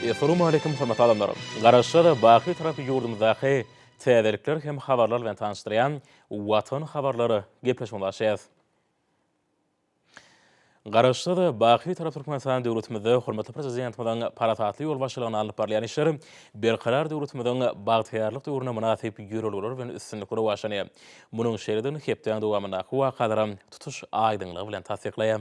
Essalawmaleýkim hormatly adamlar! Garaşsyz, baky tarapy ýurdumyzdaky täzelikler hem habarlar bilen tanyşdyrýan Watan habarlar gepleşigine başlaýarys. Garaşsyz, baky tarap Türkmenistan döwletimizde hormatly Prezidentimiziň parasatly ýolbaşçylygynda alnyp barylýan işler Berkarar döwletimiziň bagtyýarlyk döwrüne mynasyp ýörelgeler bilen üstünlikli rowaçlanýar. Munuň şeýledigini hepdäň dowamyndaky wakalaram tutuş aýdyňlygy bilen tassyklaýar.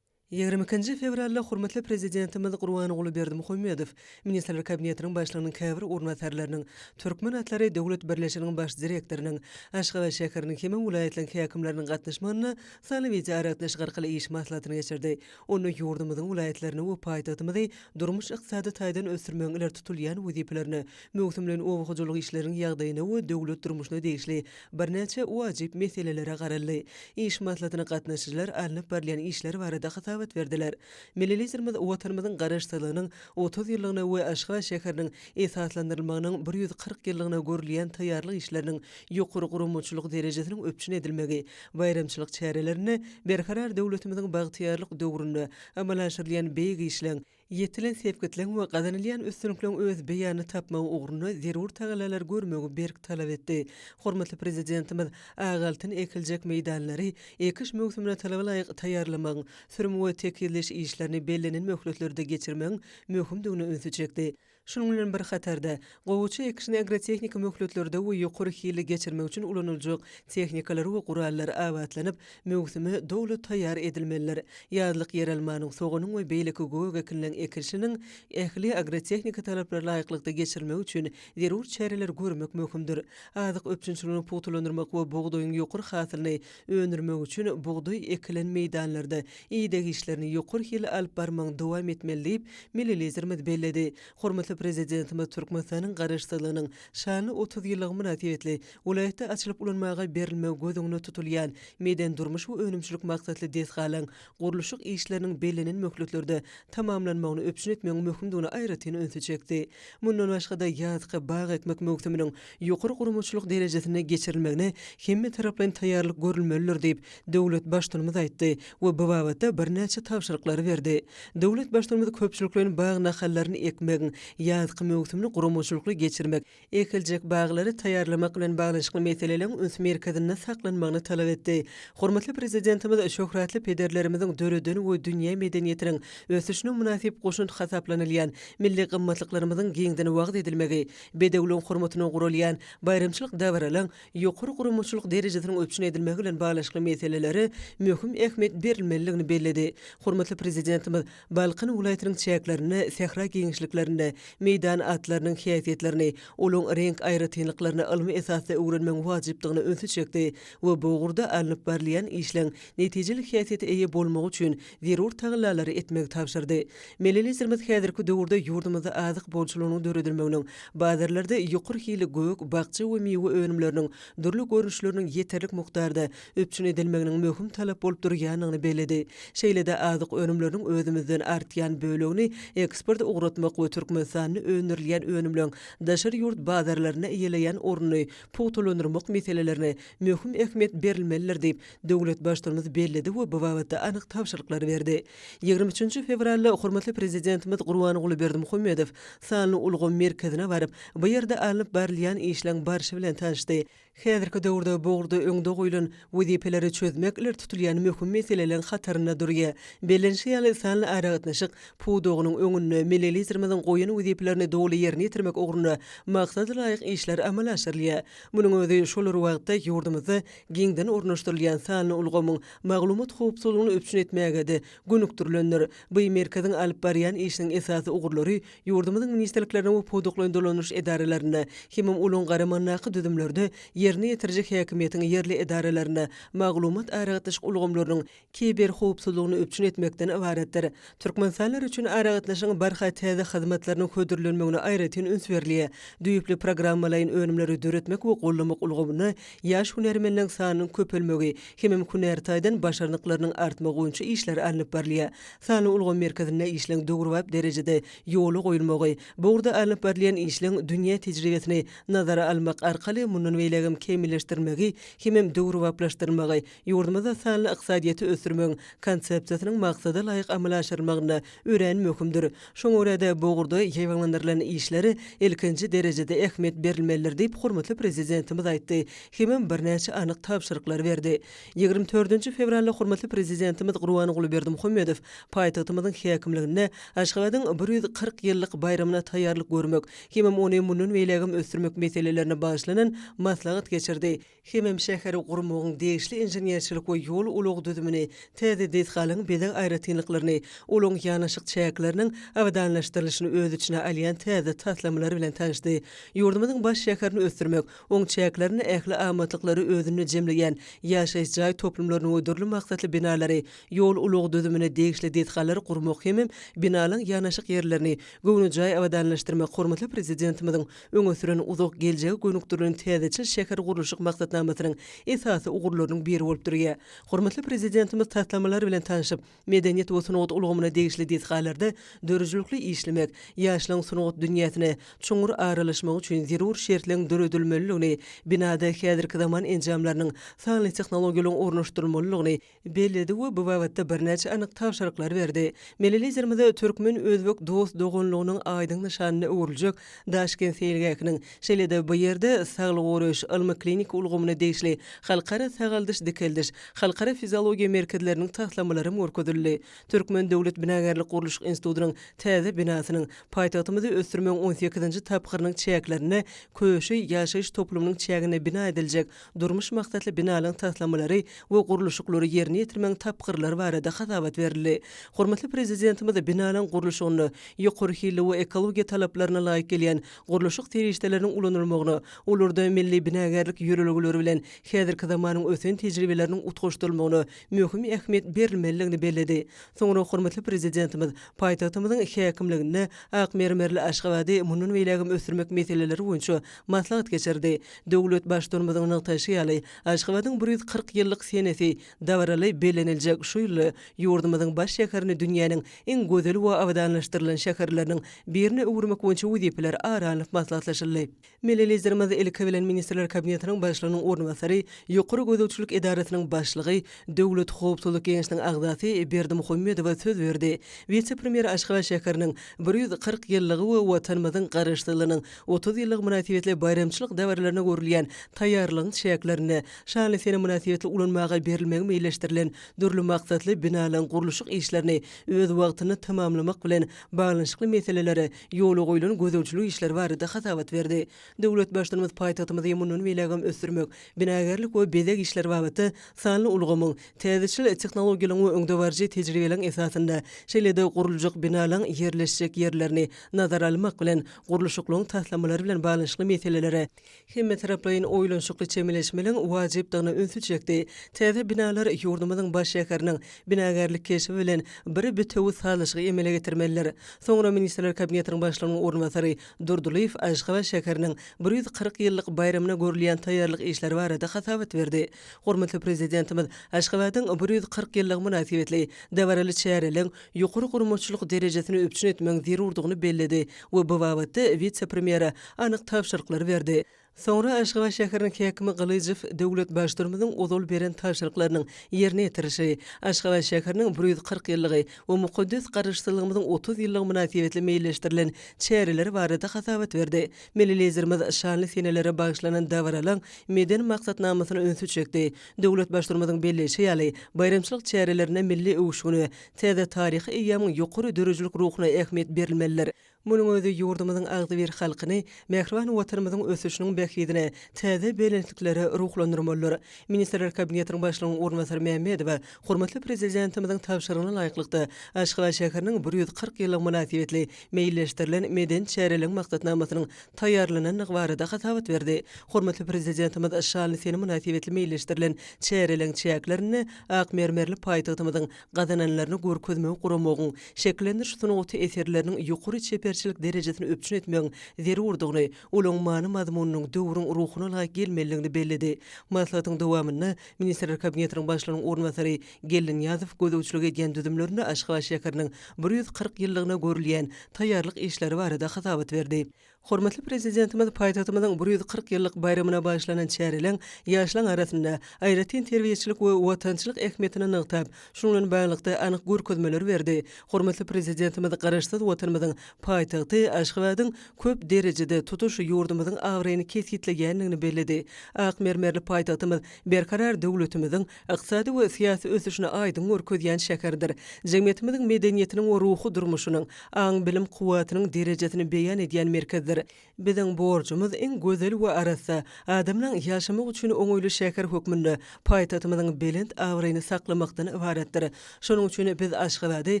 Ýigrimi ikinji fewralda hormatly Prezidentimiz Gurbanguly Berdimuhamedow Ministrler Kabinetiniň Başlygynyň käbir orunbasarlarynyň, Türkmen atlary döwlet birleşiginiň Baş direktorynyň, Aşgabat şäheriniň hemem welaýatlaryň häkimleriniň gatnaşmagynda sanly wideoaragatnaşyk arkaly iş maslahatyny geçirdi. Onda ýurdumyzyň welaýatlaryny we paýtagtymyzy durmuş-ykdysady taýdan ösdürmegiň ileri tutulýan wezipelerine, Möwsümleýin oba hojalyk işleriniň ýagdaýyna we döwlet durmuşyna degişli birnäçe wajyp meselelere garaldy. Iş maslahatyna gatnaşyjylar alnyp barylýan işler barada hasabat berdiler. Milli Liderimiz Watanymyzyň Garaşsyzlygynyň otuz ýyllygyna we Aşgabat şäheriniň esaslandyrylmagynyň bir ýüz kyrk ýyllygyna görülýän taýýarlyk işleriniň ýokary guramaçylyk derejesiniň üpjün edilmegi baýramçylyk çärelerinde Berkarar döwletimiziň bagtyýarlyk döwründe amala aşyrylýan beýik işleň Ýetilen sepgitleň we gazanylýan üstünlikleň öz beýanyny tapmagy ugrunda zerur tagallalary görmegi berk talap etdi. Hormatly Prezidentimiz ak altyn ekiljek meýdanlary ekiş möwsümine talabalaýyk taýýarlamagyň, sürüm we tekizleýiş işlerini bellenen möhletlerde geçirmegiň möhümdigine ünsi çekdi. Şunuň bilen bir hatarda, gowaça ekişini agrotehniki möhletlerde we ýokary hilli geçirmek üçin ulanyljak tehnikalar we gurallar abatlanyp, möwsüme doly taýýar edilmelidir. Ýazlyk ýeralmanyň, soganyň we beýleki gök ekinleň ekilşiniň ähli agrotehniki talaplara laýyklykda geçirilmegi üçin zerur çäreleri görmek möhümdir. Azyk üpjünçiligini pugtalandyrmak we bugdaýyň ýokary hasylyny Öndürmek üçin bugdaý ekilen meýdanlarda ideg işlerini ýokary hilli alyp barmagyň dowam etmeli diýip, milli Liderimiz belledi. Hormatly Prezidentimiz Türkmenistanyň Garaşsyzlygynyň şanly otuz ýyllygy mynasybetli welaýatda açylyp ulanmaga berilmegi göz öňünde tutulýan medeni-durmuş we önümçilik maksatly desgalaryň gurluşyk işleriniň bellenen möhletlerde tamamlanmagyny üpjün etmegiň möhümdigine aýratyn ünsi çekdi. Mundan başga-da, ýazky bag ekmek möwsüminiň ýokary guramaçylyk derejesinde geçirilmegine hemmetaraplaýyn taýýarlyk görülmelidir diýip, döwlet Baştutanymyz aýtdy we bu babatda birnäçe tabşyryklary berdi. Döwlet Baştutanymyz köpçülikleýin bag nahallaryny ekmegiň ýazky möwsümini guramaçylykly geçirmek, ekiljek baglary taýýarlamak bilen baglanyşykly meseleleriň üns merkezinde saklanmagyny talap etdi. Hormatly Prezidentimiz şöhratly pederlerimiziň döreden we dünýä medeniýetiniň ösüşine mynasyp goşant hasaplanylýan milli gymmatlyklarymyzyň giňden wagyz edilmegi, bedewligiň hormatyna guralýan baýramçylyk dabaralaryň ýokary guramaçylyk derejesiniň üpjün edilmegi bilen baglanyşykly meselelere möhüm ähmiýet berilmelidigini belledi. Hormatly Prezidentimiz Balkan welaýatynyň çäklerinde sähra giňişliklerinde meýdan atlarynyň häsiýetlerini, olaryň reňk aýratynlyklaryny ylmy esasda öwrenmegiň wajypdygyna ünsi çekdi we bu ugurda alnyp barylýan işleň netijeli häsiýete eýe bolmagy üçin zerur tagallalary etmegi tabşyrdy. Milli Liderimiz häzirki döwürde ýurdumyzda azyk bolçulygynyň döredilmeginiň, bazarlarda ýokary hilli gök, bakja we miwe önümleriniň dürli görnüşleriniň ýeterlik mukdarda üpjün edilmeginiň möhüm talap bolup durýandygyny belledi. Şeýle-de azyk önümleriniň özümizden artýan bölegini eksporta ugratmak we Türkmenistanda öndürilýän önümleriň daşary ýurt bazarlarynda eýeleýän ornuny pugtalandyrmak meselelerine möhüm ähmiýet berilmelidir diýip, döwlet Baştutumymyz belledi we bu babatda anyk tabşyryklary berdi. Ýigrimi üçünji fewralda hormatly Prezidentimiz Gurbanguly Berdimuhamedow sanly ulgam merkezine baryp, bu ýerde alnyp barylýan işleň barşy bilen tanşdy. Häzirki döwürde bu ugurda öňde goýlan wezipeleri çözmek ileri tutulýan möhüm meseleleriň hatarynda durýar. Bellenişi ýaly, sanly aragatnaşyk pudagynyň öňünde milli Liderimiziň goýan wezipelerini doly ýerine ýetirmek ugrunda maksada laýyk işler amala aşyrylýar. Munuň özi şol bir wagtda ýurdumyzda giňden ornaşdyrylýan sanly ulgamyň maglumat howpsuzlygyny üpjün etmäge-de gönükdirilendir. Bu merkeziň alyp barýan işiniň esasy ugurlary Ýurdumyzyň ministrliklerine we pudaklaýyn dolanyş edaralarynda, hemem olaryň garamandaky düzümlerde ýerine ýetiriji häkimiýetiň ýerli edaralarynda maglumat-aragatnaşyk ulgamlarynyň kiberhowpsuzlygyny üpjün etmekden ybaratdyr. Türkmenistanlylar üçin aragatnaşygyň barha täze hyzmatlarynyň hödürlenmegine aýratyn üns berilýär, düýpli programmalaýyn önümleri döretmek we goldamak ulgamynda ýaş hünärmenleriň sanynyň köpelmegi, hemem hünär taýdan başarnyklarynyň artmagy boýunça işler alnyp barylýar. Sanly ulgam merkezinde işleň döwrebap derejede ýola goýulmagy, bu ugurda alnyp barylýan işleň dünýä tejribesini nazara almak arkaly mundan beýlägem kämilleşdirmegi hemem döwrebaplaşdyrmagy ýurdumyzda sanly ykdysadyýeti ösdürmegiň Konsepsiýasynyň maksada laýyk amala aşyrylmagynda örän möhümdir. Şoňa görä-de, bu ugurda ýaýbaňlandyrylan işlere ilkinji derejede ähmiýet berilmelidir diýip, hormatly Prezidentimiz aýtdy hemem birnäçe anyk tabşyryklary berdi. Ýigrimi dördünji fewralda hormatly Prezidentimiz Gurbanguly Berdimuhamedow paýtagtymyzyň häkimliginde Aşgabadyň bir ýüz kyrk ýyllyk baýramyna taýýarlyk görmek hemem ony mundan beýlägem ösdürmek meselelerine bagyşlanan maslahat geçirdi hemem şäheri gurmagyň degişli inženerçilik we ýol-ulag düzümini, täze desgalaryň bezeg aýratynlyklaryny, olaryň ýanaşyk çäkleriniň abadanlaşdyrylyşyny öz içine alýan täze taslamalary bilen tanyşdy. Ýurdumyzyň baş şäherini ösdürmek, Oň çäklerinde ähli amatlyklary özünde jemleýän ýaşaýyş jaý toplumlaryny we dürli maksatly binalary, ýol-ulag düzümine degişli desgalary gurmak hemem binalaň ýanaşyk ýerlerini göwnejaý abadanlaşdyrmak hormatly Prezidentimiziň öňe süren uzak geljege gönükdirilen täzeçil şähergurluşyk maksatnamasynyň esasy ugurlarynyň biri bolup durýar. Hormatly Prezidentimiz taslamalar bilen tanşyp, Medeniýet we sungat ulgamyna degişli desgalarda döredijilikli işlemek, ýaşlaryň sungat dünýäsine çuňňur aralaşmagy üçin zerur şertleň döredilmelidigini, binada häzirki zaman enjamlarynyň, sanly tehnologiýalaryň ornaşdyrylmalydygyny belledi we bu babatda birnäçe anyk tabşyryklary berdi. Milli Liderimiz türkmen-özbek dost-doganlygynyň aýdyň nyşanyna öwrüljek Daşkent seýilgähiniň, şeýle-de bu ýerde Saglygy goraýyş ylmy-kliniki ulgamyna degişli Halkara sagaldyş-dikeldiş, Halkara fiziologiýa merkezleriniň taslamalaram görkezildi. Türkmen döwlet binagärlik-gurluşyk institutynyň täze binasynyň, paýtagtymyzy ösdürmegiň on sekizinji tapgyrynyň çäklerinde Köşi ýaşaýyş toplumynyň çäginde bina ediljek Durmuş maksatly binalaryň taslamalary we gurluşyklary ýerine ýetirmegiň tapgyrlary barada hasabat berildi. Hormatly Prezidentimiz binalaryň gurluşygynda ýokary hilli we ekologiýa talaplaryna laýyk gelýän gurluşyk serişdeleriniň ulanylmagyna, olarda milli binagärlik ýörelgeleri bilen häzirki zamanyň ösen tejribeleriniň utgaşdyrylmagyna möhüm ähmiýet berilmelidigini belledi. Soňra hormatly Prezidentimiz paýtagtymyzyň häkimliginde ak mermerli Aşgabady mundan beýlägem ösdürmek meseleleri boýunça maslahat geçirdi. Döwlet Baştutanymyzyň nygtaýşy ýaly, Aşgabadyň bir ýüz kyrk ýyllyk senesi dabaraly belleniljek şu ýylda ýurdumyzyň baş şäherini dünýäniň iň gözel we abadanlaşdyrylan şäherleriniň birine öwürmek boýunça wezipeler ara alnyp maslahatlaşyldy. Milli Liderimiz, ilki bilen, Ministrler Kabinetiniň Başlygynyň orunbasary, Ýokary gözegçilik edarasynyň başlygy, Döwlet howpsuzlyk geňeşiniň agzasy Berdi Muhammedowa söz berdi. Wise-premýer Aşgabat şäheriniň bir ýüz kyrk ýyllygy we Watanymyzyň Garaşsyzlygynyň Otuz ýyllygy mynasybetli baýramçylyk dabaralarna görülýän taýýarlygyň çäklerinde şanly sene mynasybetli ulanmaga berilmegi meýilleşdirilen dürli maksatly binalaryň gurluşyk işlerini öz wagtynda tamamlamak bilen baglanyşykly meselelere ýola goýlan gözegçilik işleri barada hasabat berdi. Döwlet Baştutanymyz paýtagtymyzy mundan beýlägem ösdürmek, binagärlik we bezeg işleri babatda sanly ulgamyň, täzeçil tehnologiýalaryň we öňdebaryjy tejribeleriň esasynda, şeýle-de guruljak binalaryň ýerleşjek ýerlerini nazara almak bilen, gurluşyklygyň taslamalary bilen baglanyşykly meselelere hemmetaraplaýyn oýlanyşykly çemeleşmeligiň wajypdygyna ünsi çekdi. Täze binalar ýurdumyzyň baş şäheriniň binagärlik keşbi bilen bir bitewi sazlaşygy emele getirmelidir. Soňra Ministrler Kabinetiniň Başlygynyň orunbasary Durdylyýew Aşgabat şäheriniň bir ýüz kyrk ýyllyk baýramyna görülýän taýýarlyk işleri barada hasabat berdi. Hormatly Prezidentimiz Aşgabadyň bir ýüz kyrk ýyllygy mynasybetli dabaraly çäreleň ýokary guramaçylyk derejesini üpjün etmegiň zerurdygyny belledi we bu babatda wise-premýere anyk tabşyryklary berdi. Soňra Aşgabat şäheriniň häkimi Gylyjow döwlet Baştutanymyzyň ozal beren tabşyryklarynyň ýerine ýetirişi, Aşgabat şäheriniň bir ýüz kyrk ýyllygy we mukaddes Garaşsyzlygymyzyň otuz ýyllygy mynasybetli meýilleşdirilen çäreleri barada hasabat berdi. Milli Liderimiz şanly senelere bagyşlanan dabaralaryň medeni maksatnamasyna ünsi çekdi, Döwlet Baştutanymyzyň belleýşi ýaly, baýramçylyk çärelerinde milli öwüşgine, täze taryhy eýýamyň ýokary döredijilik ruhuna ähmiýet berilmelidir. Munuň özi ýurdumyzyň agzybir halkyny mähriban Watanymyzyň ösüşiniň bähbidine täze belentliklere ruhlandyrmalydyr. Ministrler Kabinetiniň Başlygynyň orunbasary Mämmedowa hormatly Prezidentimiziň tabşyrygyna laýyklykda, Aşgabat şäheriniň bir ýüz kyrk ýyllygy mynasybetli meýilleşdirilen medeni çäreleriň maksatnamasynyň taýýarlanandygy barada hasabat berdi. Hormatly Prezidentimiz şaly sene mynasybetli meýilleşdirilen çäreleriň çäklerinde ak mermerli paýtagtymyzyň gazananlaryny görkezmegi guramagyň, şekillendiriş sungaty eserleriniň ýokary çeperçilik derejesini üpjün etmegiň zerurdygyny, olaryň many-mazmunynyň döwrüň ruhuna laýyk gelmelidigini belledi. Maslahatyň dowamynda Ministrler Kabinetiniň Başlygynyň orunbasary Geldinyýazow gözegçilik edýän düzümlerinde Aşgabat şäheriniň bir ýüz kyrk ýyllygyna görülýän taýýarlyk işleri barada hasabat berdi. Hormatly Prezidentimiz paýtagtymyzyň bir ýüz kyrk ýyllyk baýramyna bagyşlanan çäreleň ýaşlaň arasynda aýratyn terbiýeçilik we watançylyk ähmiýetini nygtap, şunuň bilen baglylykda anyk görkezmeler berdi. Hormatly Prezidentimiz Garaşsyz Watanymyzyň paýtagty Aşgabadyň köp derejede tutuş ýurdumyzyň abraýyny kesgitleýändigini belledi. Ak mermerli paýtagtymyz Berkarar döwletimiziň ykdysady we syýasy ösüşini aýdyň görkezýän şäherdir. Jemgyýetimiziň medeniýetiniň we ruhy durmuşynyň, aň-bilim kuwwatynyň derejesini beýan edýän merkezdir. Biziň borjumyz iň gözel we arassa, adamlaryň ýaşamak üçin oňaýly şäher hökmünde paýtagtymyzyň belent abraýyny saklamakdan ybaratdyr. Şonuň üçin biz Aşgabady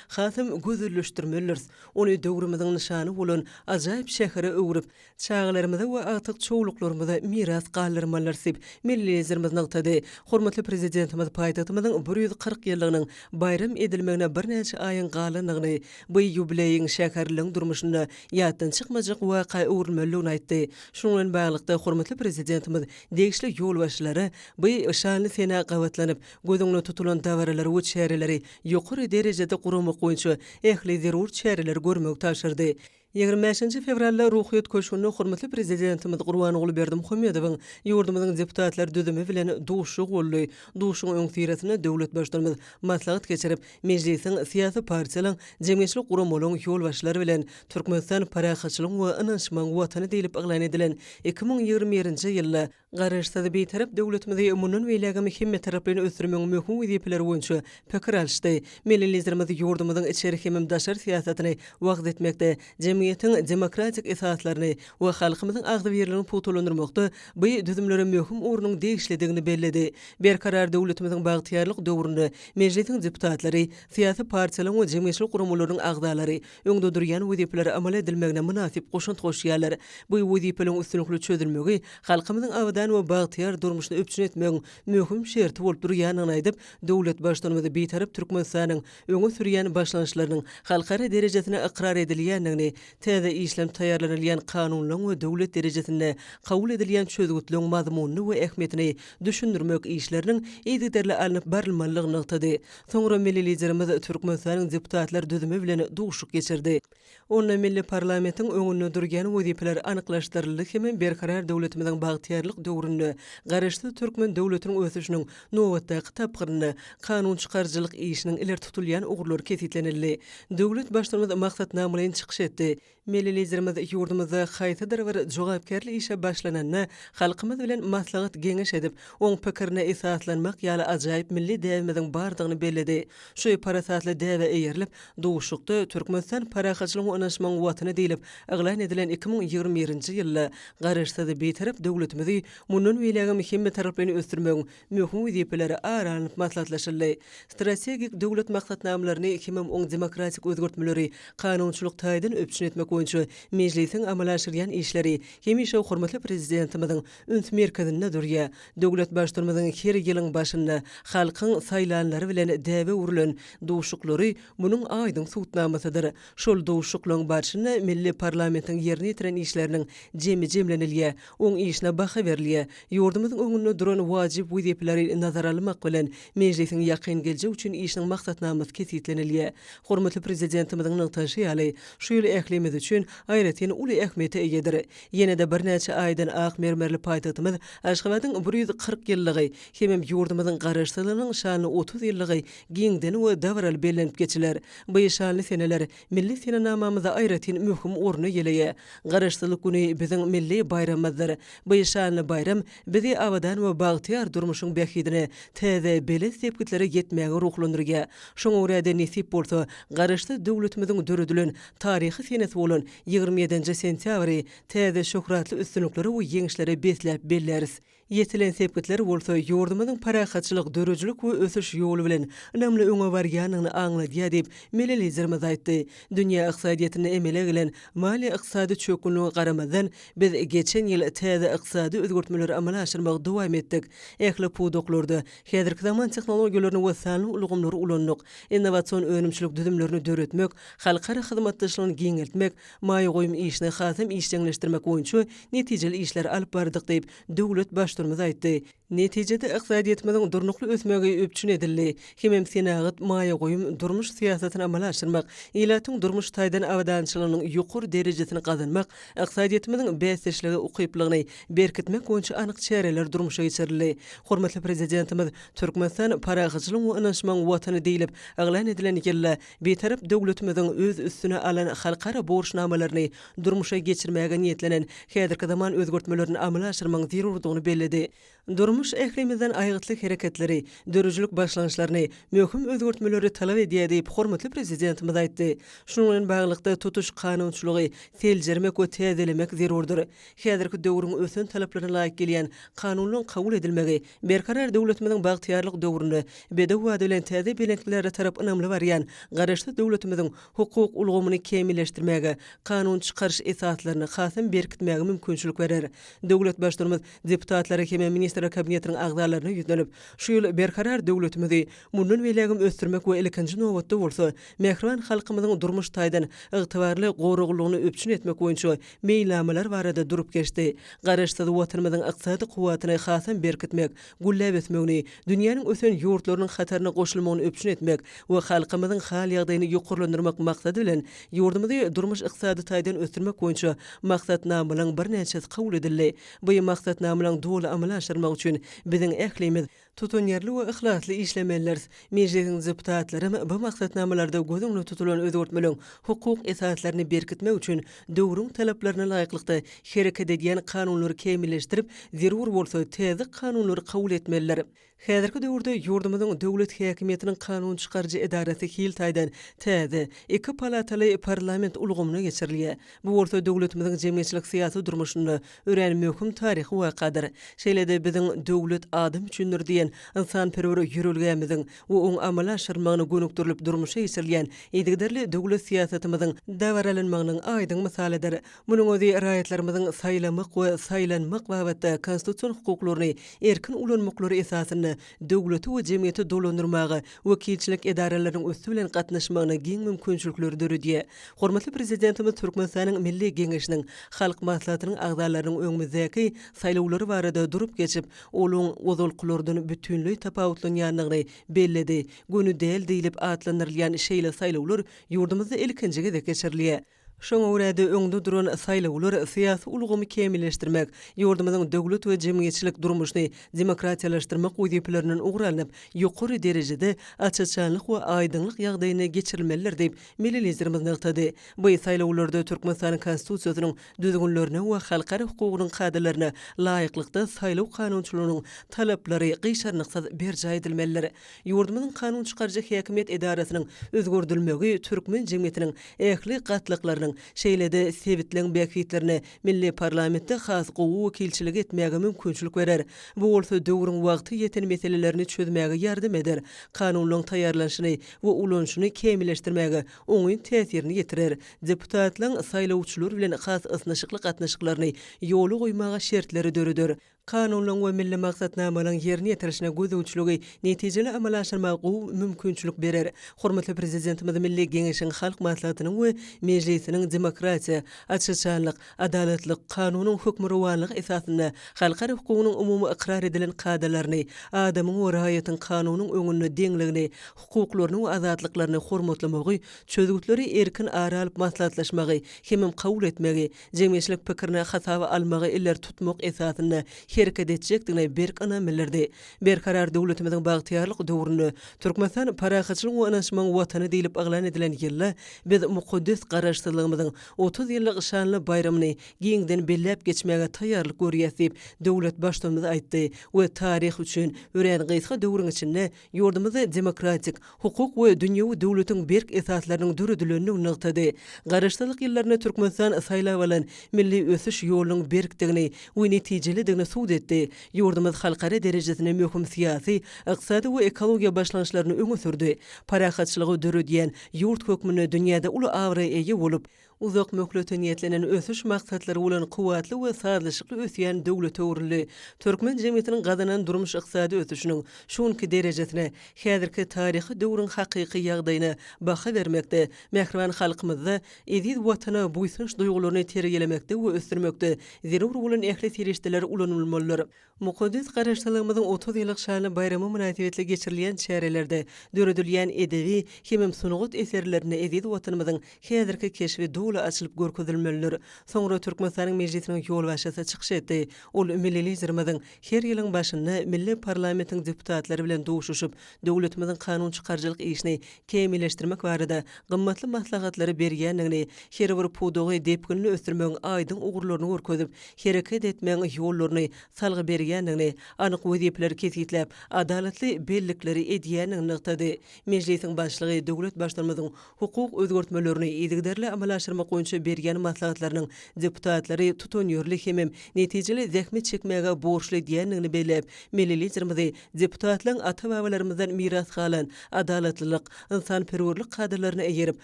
hasam gözelleşdirmelidiris. Ony döwrümiziň nyşany bolan ajaýyp şähere öwrüp, çagalarymyza we agtyk çowluklarymyza miras galdyrmalydyr diýip, milli Liderimiz nygtady. Hormatly Prezidentimiz paýtagtymyzyň bir ýüz kyrk ýyllygynyň baýram edilmegine birnäçe aýyň galandygyny, bu ýubileýiň şäherliligiň durmuşynda ýatdan çykmajak waka öwrülmelidigini aýtdy. Şunuň bilen baglylykda, hormatly Prezidentimiz degişli ýolbaşçylara bu şanly senä gabatlanyp, göz öňünde tutulan dabaralary we çäreleri ýokary derejede guramak boýunça ähli zerur çäreleri görmegi tabşyrdy. Ýigrimi bäşinji fewralda Ruhyýet köşgünde hormatly Prezidentimiz Gurbanguly Berdimuhamedowyň ýurdumyzyň deputatlar düzümi bilen duşuşygy boldy. Duşuşygyň öňüsyrasynda döwlet Baştutanymyz maslahat geçirip, Mejlisiň, syýasy partiýalaryň, jemgyýetçilik guramalaryň ýolbaşçylary bilen Türkmenistan parahatçylygyň we ynanyşmagyň Watany diýlip yglan edilen iki müň ýigrimi birinji ýylda Garaşsyz, Bitarap döwletimizi mundan beýlägem hemmetaraplaýyn ösdürmegiň möhüm wezipeleri boýunça pikir alyşdy. Milli Liderimiz ýurdumyzyň içeri hem daşary syýasatyny wagyz etmekde, jemgyýetiň demokratik esaslaryny we halkymyzyň agzybirligini pugtalandyrmakda bu düzümlere möhüm ornuň degişlidigini belledi. Berkarar döwletimiziň bagtyýarlyk döwründe Mejlisiň deputatlary, syýasy partiýalaryň we jemgyýetçilik guramalarynyň agzalary, öňde durýan wezipelere amal edilmegine mynasyp goşant goşýarlar. Bu wezipeleriň üstünlikli çözülmegi halkymyzyň abadan we bagtyýar durmuşyny üpjün etmegiň möhüm şerti bolup durýandygyny aýdyp, döwlet Baştutanymyz Bitarap Türkmenistanyň öňe sürýän başlangyçlarynyň halkara derejesinde ykrar edilýändigini, täze işlenip taýýarlanylýan kanunlaryň we döwlet derejesinde kabul edilýän çözgütleriň mazmunyny we ähmiýetini düşündirmek işleriniň yzygiderli alnyp barylmalydygyny nygtady. Soňra milli Liderimiz Türkmenistanyň deputatlar düzümi bilen duşuk geçirdi. Onda milli parlamentiň öňünde durýan wezipeler anyklaşdyryldy hem Berkarar döwletimiziň bagtyýarlyk döwründe Garaşsyz türkmen döwletiniň ösüşiniň nobatdaky tapgyrynda kanun çykaryjylyk işiniň ileri tutulýan ugurlary kesgitlenildi. Döwlet Baştutanymyz maksatnamalaýyn çykyş etdi. Milli Liderimiz ýurdumyzda haýsydyr bir jogapkärli işe başlananda halkymyz bilen maslahat-geňeş edip, oň pikirine esaslanmak ýaly ajaýyp milli däbimiziň bardygyny belledi. Şu parasatly däbe eýerilip, duşuşykda Türkmenistan parahatçylygyň onaşmagyň Watany diýlip yglan edilen iki müň ýigrimi birinji ýylda Garaşsyz, Bitarap döwletimizi mundan beýlägem hemmetaraplaýyn ösdürmegiň möhüm wezipeleri ara alnyp maslahatlaşyldy. Strategik döwlet maksatnamalaryny hemem oň demokratik özgertmeleri kanunçylyk taýdan üpjün etmek boýunça Mejlisiň amala aşyrýan işleri hemişe hormatly Prezidentimiziň üns merkezinde durýar. Döwlet Baştutanymyzyň her ýylyň başynda halkyň saýlanlary bilen däbe öwrülen duşuklary munuň aýdyň subutnamasydyr. Şol duşuklaryň barşynda milli parlamentiň ýerine ýetiren işleriniň jemi jemlenilýär. Oň işine baha berilýär. Ýurdumyzyň öňünde duran wajyp wezipeleri nazara almak bilen, Mejlisiň ýakyn geljek üçin işiniň maksatnamasy kesgitlenilýär. Hormatly Prezidentimiziň nygtaşy ýaly, şu ýyl ählimiz üçin aýratyn uly ähmiýete eýedir. Ýene-de birnäçe aýdan ak mermerli paýtagtymyz Aşgabadyň bir ýüz kyrk ýyllygy hemem ýurdumyzyň Garaşsyzlygynyň şanly otuz ýyllygy giňden we dabaraly bellenip geçiler. Bu şanly seneler Milli senenamamyzda aýratyn möhüm orun eýeleýär. Garaşsyzlyk güni biziň milli baýramymyzdyr. Bu şanly baýram bizi abadan we bagtyýar durmuşyň bähbidine täze belent sepgitlere ýetmäge ruhlandyrýar. Şoňa görä-de, nesip bolsa, Garaşsyz döwletimiziň döredilen taryhy senesi bolan ýigrimi ýedinji sentýabry täze şöhratly üstünliklere we ýeňişlere besläp belläris. Ýetilen sepgitler bolsa ýurdumyzyň parahatçylyk, döredijilik we ösüş ýoly bilen ynamly öňe barýandygyny aňladýar diýip, milli Liderimiz aýtdy. Dünýä ykdysadyýetinde emele gelen maliýe-ykdysady çökgünlige garamazdan, biz geçen ýyl täze ykdysady özgertmeleri amala aşyrmagy dowam etdik, ähli pudaklarda häzirki zaman tehnologiýalaryny we sanly ulgamlary ulandyk, innowasion önümçilik düzümlerini döretmek, halkara hyzmatdaşlygyny giňeltmek, maýa goýum işini hasam işjeňleşdirmek boýunça netijeli işleri alyp bardyk diýip, döwlet Baştutumyz aýtdy. Netijede, ykdysadyýetimiziň durnukly ösmegi üpjün edildi. Hemem senagat, maýa goýum, durmuş syýasatyny amala aşyrmak, ilatyň durmuş taýdan abadançylygynyň ýokary derejesini gazanmak, ykdysadyýetimiziň bäsdeşlige ukyplygyny berkitmek boýunça anyk çäreler durmuşa geçirildi. Hormatly Prezidentimiz Türkmenistan parahatçylygyň we ynanyşmagyň Watany diýlip yglan edilen ýylda Bitarap döwletimiziň öz üstüne alan halkara borçnamalaryny durmuşa geçirmäge niýetlenen häzirki zaman özgertmelerini amala aşyrmagyň zerurdygyny belledi. Durmuş ählimizden aýgytly hereketleri, döredijilik başlangyçlaryny, möhüm özgertmeleri talap edýär diýip, hormatly Prezidentimiz aýtdy. Şunuň bilen baglylykda, tutuş kanunçylygy seljermek we täzelemek zerurdyr. Häzirki döwrüň ösen talaplaryna laýyk gelýän kanunyň kabul edilmegi Berkarar döwletimiziň bagtyýarlyk döwründe bedew wada bilen täze belentliklere tarap ynamly barýan Garaşsyz döwletimiziň hukuk ulgamyny kämilleşdirmäge, kanun çykaryş esaslaryny hasam berkitmäge mümkinçilik berer. Döwlet Baştutanymyz deputatlara hem-ä Ministrler Kabinetiniň agzalaryna ýüzlenip, şu ýyl Berkarar döwletimizi mundan beýlägem ösdürmek we ilkinji nobatda bolsa, mähriban halkymyzyň durmuş taýdan ygtybarly goraglylygyny üpjün etmek boýunça meýilnamalar barada durup geçdi. Garaşsyz Watanymyzyň ykdysady kuwwatyny hasam berkitmek, gülläp ösmegini, dünýäniň ösen ýurtlarynyň hataryna goşulmagyny üpjün etmek we halkymyzyň hal-ýagdaýyny ýokarlandyrmak maksady bilen, ýurdumyzy durmuş-ykdysady taýdan ösdürmek boýunça maksatnamalaryň birnäçesi kabul edildi. Bu maksatnamalaryň doly amala aşyrylmagy üçin biziň ählimiz, Tutanýerli we yhlasly işlemelidiris. Mejlisiň deputatlaram bu maksatnamalarda göz öňünde tutulan özgertmeligiň hukuk esaslaryny berkitmek üçin döwrüň talaplaryna laýyklykda hereket edýän kanunlary kämilleşdirip, zerur bolsa, täze kanunlary kabul etmelidir. Häzirki döwürde ýurdumyzyň döwlet häkimiýetiniň kanun çykaryjy edarasy hil taýdan täze, iki palataly parlament ulgamyna geçirilýär. Bu bolsa döwletimiziň jemgyýetçilik-syýasy durmuşynda örän möhüm taryhy wakadyr. Şeýle-de biziň Döwlet adam üçindir! diýen ynsanperwer ýörelgämiziň we oň amala aşyrmagyna gönükdirilip durmuşa geçirilýän yzygiderli döwlet syýasatymyzyň dabaralanmagynyň aýdyň mysalydyr. Munuň özi raýatlarymyzyň saýlamak we saýlanmak babatda konstitusion hukuklaryny erkin ulanmaklary esasynda döwleti we jemgyýeti dolandyrmaga wekilçilik edaralarynyň üsti bilen gatnaşmagyna giň mümkinçilikleri döredýär. Hormatly Prezidentimiz Türkmenistanyň Milli Geňeşiniň Halk Maslahatynyň agzalarynyň öňümizdäki saýlawlary barada durup geçip, olaryň ozalkylardan bütinleý tapawutlanýandygyny belledi, göni däl diýlip atlandyrylýan şeýle saýlawlar ýurdumyzda ilkinji gezek geçirilýär. Şoňa görä-de, öňde duran saýlawlar syýasy ulgamy kämilleşdirmek, ýurdumyzyň döwlet we jemgyýetçilik durmuşyny demokratiýalaşdyrmak wezipelerinden ugur alnyp, ýokary derejede aç-açanlyk we aýdyňlyk ýagdaýynda geçirilmelidir diýip, milli Liderimiz nygtady. Bu saýlawlarda Türkmenistanyň Konstitusiýasynyň düzgünlerine we halkara hukugynyň kadalaryna laýyklykda saýlaw kanunçylygynyň talaplary gyşarnyksyz berjaý edilmelidir. Ýurdumyzyň kanun çykaryjy häkimiýet edarasynyň özgerdilmegi türkmen jemgyýetiniň ähli gatlaklarynyň, şeýle-de sebitleň bähbitlerine milli parlamentde has gowy wekilçilik etmäge mümkinçilik berer. Bu bolsa döwrüň wagty ýeten meselelerini çözmäge ýardam eder, kanunlaryň taýýarlanyşyny we ulanyşyny kämilleşdirmäge oňyn täsirini ýetirer, deputatlaryň saýlawçylar bilen has ysnyşykly gatnaşyklaryny ýola goýmaga şertleri döreder. Kanunlaryň we milli maksatnamalaryň ýerine ýetirilişine gözegçiligi netijeli amala aşyrmaga gowy mümkinçilik berer. Hormatly Prezidentimiz Milli Geňeşiň Halk Maslahatynyň we Mejlisiniň demokratiýa, açyşanlyk, adalatlyk, kanunyň hökmürowanlygy esasynda halkara hukugynyň umumy ykrar edilen kadalaryny, adamyň we raýatyň kanunyň öňünde deňligini, hukuklaryny we azatlyklaryny hormatlamagy, çözgütleri erkin ara alyp maslahatlaşmagy hemem kabul etmegi, jemgyýetçilik pikirini hasaba almagy ileri tutmak esasynda hereket etjekdigine berk ynam bildirdi. Berkarar döwletimiziň bagtyýarlyk döwründe, Türkmenistan parahatçylygyň we ynanyşmagyň Watany diýlip yglan edilen ýylda biz mukaddes Garaşsyzlygymyzyň otuz ýyllyk şanly baýramyny giňden belläp geçmäge taýýarlyk görýäs diýip, döwlet Baştutanymyz aýtdy we taryh üçin örän gysga döwrüň içinde Ýurdumyz demokratik, hukuk we dünýewi döwletiň berk esaslarynyň döredilendigini nygtady. Garaşsyzlyk ýyllarynda Türkmenistan saýlap alan milli ösüş ýolunyň berkdigini we netijelidigini subut etdi. Ýurdumyz halkara derejesinde möhüm syýasy, ykdysady we ekologiýa başlangyçlaryny öňe sürdi. Parahatçylygy döredýän ýurt hökmünde dünýäde uly abraýa eýe bolup, uzak möhlete niýetlenen ösüş maksatlary bolan kuwwatly we sazlaşykly ösýän döwlete öwrüldi. Türkmen jemgyýetiniň gazanan durmuş-ykdysady ösüşiniň şu günki derejesine, häzirki taryhy döwrüň hakyky ýagdaýyna baha bermekde, mähriban halkymyzda eziz Watana buýsanç duýgularyny terbiýelemekde we ösdürmekde zerur bolan ähli serişdeler ulanylmalydyr. Mukaddes Garaşsyzlygymyzyň otuz ýyllyk şanly baýramy mynasybetli geçirilýän çärelerde döredilýän edebi hemem sungat eserlerinde eziz Watanymyzyň häzirki keşbi doly açylyp görkezilmelidir. Soňra Türkmenistanyň Mejlisiniň ýolbaşçysy çykyş etdi. Ol milli Liderimiziň her ýylyň başynda milli parlamentiň deputatlary bilen duşuşyp, döwletimiziň kanunçykaryjylyk işini kämilleşdirmek barada gymmatly maslahatlary berýändigini, her bir pudagy depginli ösdürmegiň aýdyň ugurlaryny görkezip, hereket etmegiň ýollaryny salgy berýändigini, anyk wezipeleri kesgitläp, adalatly bellikleri edýändigini nygtady. Mejlisiň Başlygy döwlet Baştutanymyzyň hukuk özgertmelerini yzygiderli amala aşyrmak boýunça berýän maslahatlarynyň deputatlary tutanýerli hemem netijeli zähmet çekmäge borçly diýendigini belläp, Milli Liderimizi deputatlaryň ata-babalarymyzdan miras galan adalatlylyk, ynsanperwerlik kadalaryna eýerip,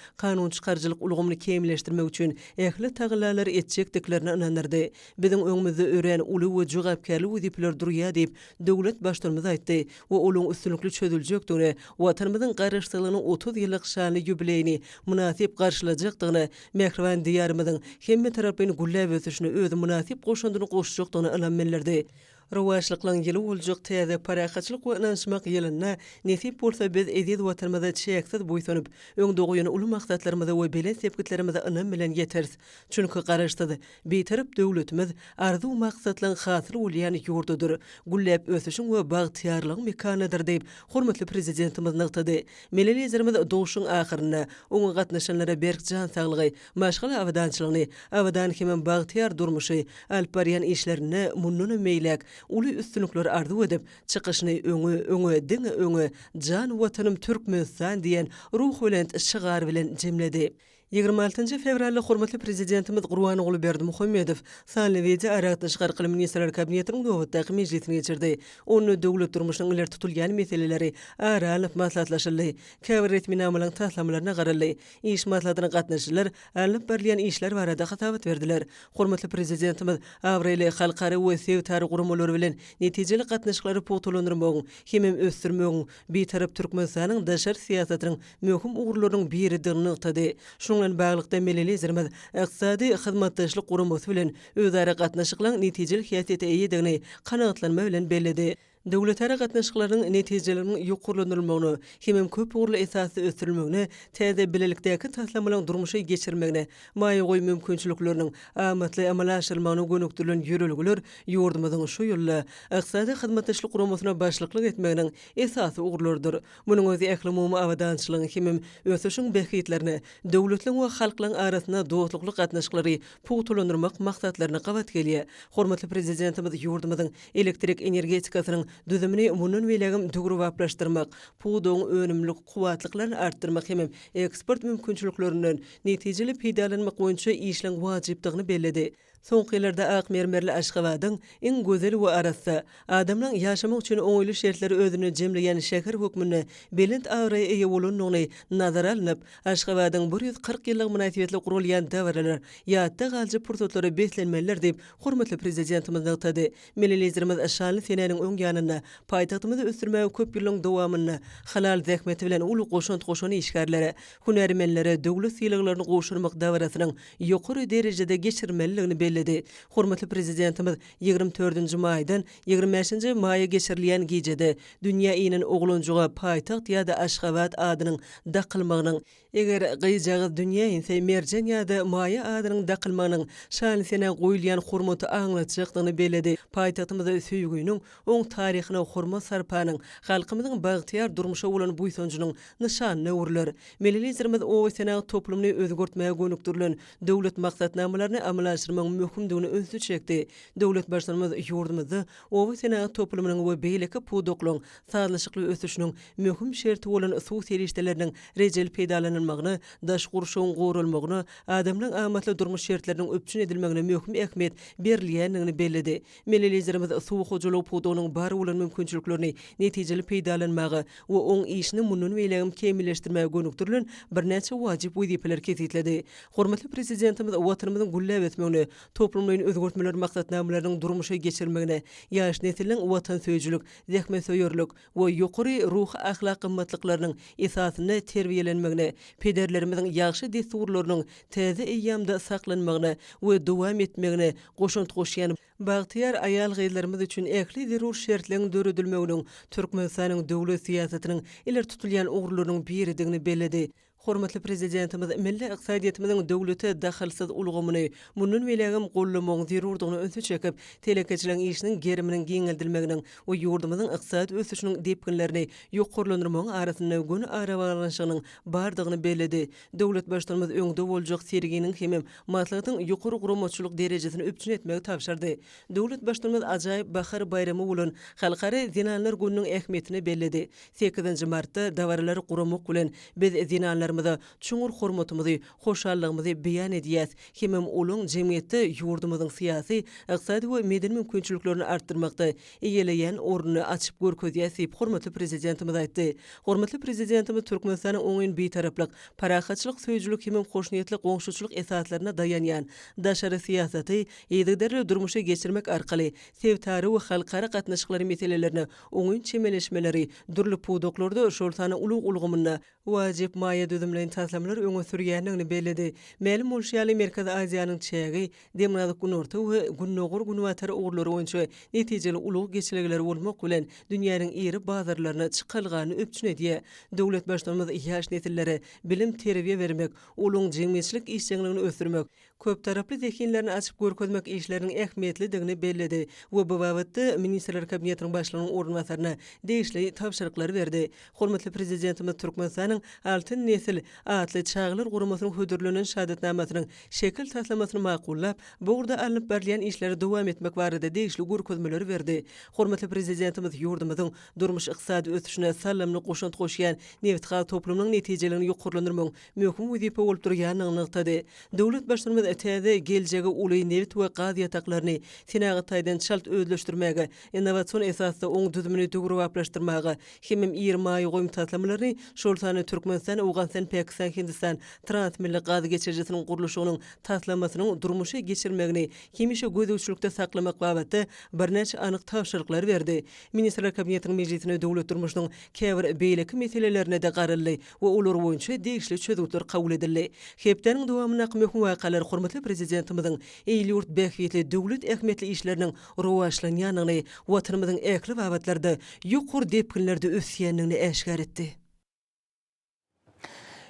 kanunçykaryjylyk ulgamyny kämilleşdirmek üçin ähli tagallalary etjekdiklerine ynandyrdy. Biziň öňümizde örän uly we jogapkärli wezipeler durýar diýip, döwlet Baştutanymyz aýtdy we olaryň üstünlikli çözüljekdigine, Watanymyzyň Garaşsyzlygynyň otuz ýyllyk şanly ýubileýini mynasyp garşylajakdygyna, mähriban Diýarymyzyň hemmetaraplaýyn gülläp ösüşine öz mynasyp goşandyny goşjakdygyna ynam bildirdi. Rowaçlyklyň ýyly boljak täze parahatçylyk we ynanyşmak ýylynda, nesip bolsa, biz eziz Watanymyza çäksiz buýsanyp, öňde goýan uly maksatlarymyza we belent sepgitlerimize ynam bilen ýeteris. Çünki Garaşsyz, Bitarap döwletimiz arzuw-maksatlaryň hasyly bolýan ýurdudyr, gülläp ösüşiň we bagtyýarlygyň mekanydyr diýip, hormatly Prezidentimiz nygtady. Milli Liderimiz duşuşygyň ahyrynda oňa gatnaşanlara berk jan saglygy, Maşgala abadançylygyny, abadan hemem bagtyýar durmuşy alyp barýan işlerinde mundanam beýläk uly üstünlikleri arzuw edip, çykyşyny Öňe, öňe, diňe öňe, jan Watanym Türkmenistan! diýen ruhubelent şygar bilen jemledi. Ýigrimi altynjy fewralda hormatly Prezidentimiz Gurbanguly Berdimuhamedow sanly wideo aragatnaşyk arkaly Ministrler Kabinetiniň nobatdaky mejlisini geçirdi. Onda döwlet durmuşynyň ileri tutulýan meseleleri ara alnyp maslahatlaşyldy, käbir resminamalaryň taslamalaryna garaldy, Iş maslahatyna gatnaşyjylar alnyp barylýan işler barada hasabat berdiler. Hormatly Prezidentimiz abraýly halkara we sebitara guramalary bilen netijeli gatnaşyklary pugtalandyrmagyň hemem ösdürmegiň Bitarap Türkmenistanyň daşary syýasatynyň möhüm ugurlarynyň biridigini nygtady. Şunuň bilen baglylykda, milli Liderimiz Ykdysady Hyzmatdaşlyk Guramasy bilen özara gatnaşyklaryň netijeli häsiýete eýedigini kanagatlanma bilen belledi. Döwletara gatnaşyklarynyň netijeleriniň ýokarlandyrylmagyna hemem köp ugurly esasda ösdürilmegine, täze bilelikdäki taslamalaryň durmuşa geçirilmegine, maýa goýum mümkinçilikleriniň amatly amala aşyrylmagyna gönükdirilen ýörelgeler ýurdumyzyň şu ýylda Ykdysady Hyzmatdaşlyk Guramasyna başlyklyk etmeginiň esasy ugurlarydyr. Munuň özi ählumumy abadançylygyň hemem ösüşiň bähbitlerine, döwletleriň we halklaryň arasynda dostlukly gatnaşyklary pugtalandyrmak maksatlaryna gabat gelýär. Hormatly Prezidentimiz ýurdumyzyň Elektrik energetikasynyň düzümini mundan beýlägem döwrebaplaşdyrmak, pudagyň önümlilik kuwwatlyklaryny artdyrmak hemem eksport mümkinçiliklerinden netijeli peýdalanmak boýunça işleň wajypdygyny belledi. Soňky ýyllarda ak mermerli Aşgabadyň iň gözel we arassa, adamlaryň ýaşamak üçin oňaýly şertleri özünde jemleýän şäher hökmünde belent abraýa eýe bolandygyny nazara alnyp, Aşgabadyň bir ýüz kyrk ýyllygy mynasybetli guralýan dabaralar ýatda galyjy pursatlary beslenmelidir diýip, hormatly Prezidentimiz nygtady. Milli Liderimiz şanly senäniň öň ýanynda paýtagtymyzy ösdürmäge köp ýyllaryň dowamynda halal zähmeti bilen uly goşant goşan işgärlere, hünärmenlere döwlet sylaglaryny gowşurmak dabarasynyň ýokary derejede geçirilmelidigini belledi. Hormatly Prezidentimiz ýigrimi dördünji maýdan ýigrimi bäşinji maýa geçirilýän gijede dünýä inen oglanjyga paýtagt ýa-da Aşgabat adynyň dakylmagynyň, Eger gyzjagaz dünýä inse Merjen ýa-da Maýa adynyň dakylmagynyň şan-sene goýulýan hormaty aňlatjakdygyny belledi. Paýtagtymyz söýginiň, oň taryhyna hormat-sarpanyň, halkymyzyň bagtyýar durmuşa bolan buýsanjynyň nyşanyna öwrüler. Milli Liderimiz obasenagat toplumyny özgertmäge gönükdirilen döwlet maksatnamalaryny amala aşyrmagyň möhümdigine ünsi çekdi. Döwlet Baştutanymyz ýurdumyzda obasenagat toplumynyň we beýleki pudaklaryň sazlaşykly ösüşiniň möhüm şerti bolan suw serişdeleriniň rejeli peýdalanylmagyna, daş gurşawyň goralmagyna, adamlaryň amatly durmuş şertleriniň üpjün edilmegine möhüm ähmiýet berilýändigini belledi. Milli Liderimiz suw hojalygy pudagynyň bar bolan mümkinçiliklerini netijeli peýdalanmaga we oň işini mundan beýläk hem kämilleşdirmäge gönükdirilen birnäçe wajyp wezipeleri kesgitledi. Hormatly Prezidentimiz Watanymyzyň gülläp ösmegine, toplumlaýyn özgertmeler maksatnamalarynyň durmuşa geçirilmegine, ýaş nesliň watansöýüjilik, zähmetsöýerlik we ýokary ruhy-ahlak gymmatlyklarynyň esasynda terbiýelenmegine, pederlerimiziň ýagşy dessurlarynyň täze eýýamda saklanmagyna we dowam etmegine goşant goşýan bagtyýar aýal-gyzlarymyz üçin ähli zerur şertleň döredilmeginiň Türkmenistanyň döwlet syýasatynyň ileri tutulýan ugurlarynyň biridigini belledi. Hormatly Prezidentimiz milli ykdysadyýetimiziň döwlete dahylsyz ulgamyny mundan beýlägem goldamagyň zerurdygyna ünsi çekip, telekeçiligiň işiniň geriminiň giňeldilmeginiň we ýurdumyzyň ykdysady ösüşiniň depginlerini ýokarlandyrmagyň arasynda göni arabaglanyşygynyň bardygyny belledi. Döwlet Baştutanymyz öňde boljak serginiň hemem maslahatyň ýokary guramaçylyk derejesini üpjün etmegi tabşyrdy. Döwlet Baştutanymyz ajaýyp bahar baýramy bolan Halkara zenanlar gününiň ähmiýetini belledi. Sekizinji martda dabaralary guramak bilen, biz zenanlarymyza çuňňur hormatymyzy, hoşallygymyzy beýan edýäs hemem olaň jemgyýetde ýurdumyzyň syýasy, ykdysady we medeni mümkinçiliklerini artdyrmakda eýeleýän ornuny açyp görkezýäs diýip, hormatly Prezidentimiz aýtdy. Hormatly Prezidentimiz Türkmenistanyň oňyn Bitaraplyk, parahatçylyk söýüjilik hemem hoşniýetli goňşuçylyk esaslaryna daýanýan daşary syýasaty yzygiderli durmuşa geçirmek arkaly sebitara we halkara gatnaşyklary meselelerine oňyn çemeleşmeleri, dürli pudaklarda, şol sanda ulag ulgamynda wajyp maýa düzümleýin taslamalary öňe sürýändigini belledi. Mälim bolşy ýaly, Merkezi Aziýanyň çägi, Demirgazyk-Günorta we Gündogar-Günbatar ugurlary boýunça netijeli ulag geçelgeleri bolmak bilen, dünýäniň iri bazarlaryna çykalgany üpjün edýär. Döwlet Baştutanymyz ýaş nesillere bilim-terbiýe bermek, olaryň jemgyýetçilik işjeňligini ösdürmek, köptaraply zehinlerini açyp görkezmek işleriniň ähmiýetlidigini belledi we bu babatda Ministrler Kabinetiniň Başlygynyň orunbasaryna degişli tabşyryklary berdi. Hormatly Prezidentimiz Türkmenistanyň Altyn nesil atly çagalar guramasynyň hödürlenen şahadatnamasynyň şekil taslamasyny makullap, bu ugurda alnyp barylýan işleri dowam etmek barada degişli görkezmeleri berdi. Hormatly Prezidentimiz ýurdumyzyň durmuş-ykdysady ösüşine salymly goşant goşýan nebitgaz toplumynyň netijeligini ýokarlandyrmagyň möhüm wezipe bolup durýandygyny nygtady. Döwlet Baştutanymyz täze, geljegi uly nebit we gaz ýataklaryny senagat taýdan çalt özleşdirmäge, innowasion esasda oň düzümini döwrebaplaşdyrmaga hemem iri maýa goýum taslamalaryny, şol sanda Türkmenistan, Owganystan, Pakistan, Hindistan transmilli gaz geçirijisiniň gurluşygynyň taslamasynyň durmuşa geçirilmegini hemişe gözegçilikde saklamak babatda birnäçe anyk tabşyryklary berdi. Ministrler Kabinetiniň mejlisinde döwlet durmuşynyň käbir beýleki meselelerine-de garaldy. we olar boýunça degişli çözgütler kabul edildi. Hepdäniň dowamyndaky möhüm wakalar hormatly Prezidentimiziň il-ýurt bähbitli, döwlet ähmiýetli işleriniň rowaçlanýandygyny, Watanymyzyň ähli babatlarda ýokary depginlerde ösýändigini äşgär etdi.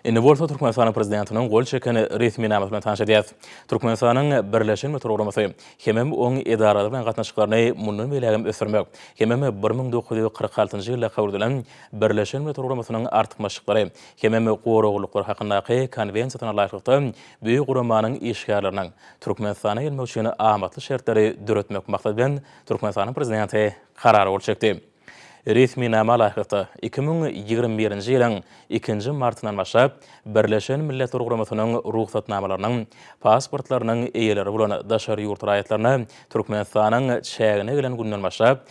Indi bolsa Türkmenistanyň Prezidentiniň gol çeken resminamasy bilen tanyş edýäris. Türkmenistanyň birleşen Mütür guramasy hemem oň edaralary bilen gatnaşyklaryny mundan beýlägem ösdürmek hemem bir müň dokuz ýüz kyrk altynjy ýylda kabul edilen Birleşen Milletler Guramasynyň artykmaçlyklary hemem goraglylyklary hakyndaky Konwensiýasyna laýyklykda bu guramanyň işgärleriniň Türkmenistana gelmek üçin amatly şertleri döretmek maksady bilen Türkmenistanyň Prezidenti Karar gol çekdi. Resminama laýyklykda, iki müň ýigrimi birinji ýylyň ikinji martyndan başlap, Birleşen Milletler Guramasynyň rugsatnamalarynyň, pasportlarynyň eýeleri bolan daşary ýurt raýatlaryna Türkmenistanyň çägine gelen günden başlap,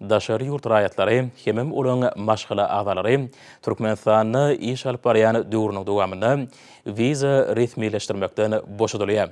Daşary ýurt raýatlary hemem olaryň maşgala agzalary Türkmenistanda iş alyp barýan döwrüniň dowamynda wiza resmileşdirmekden boşadylýar.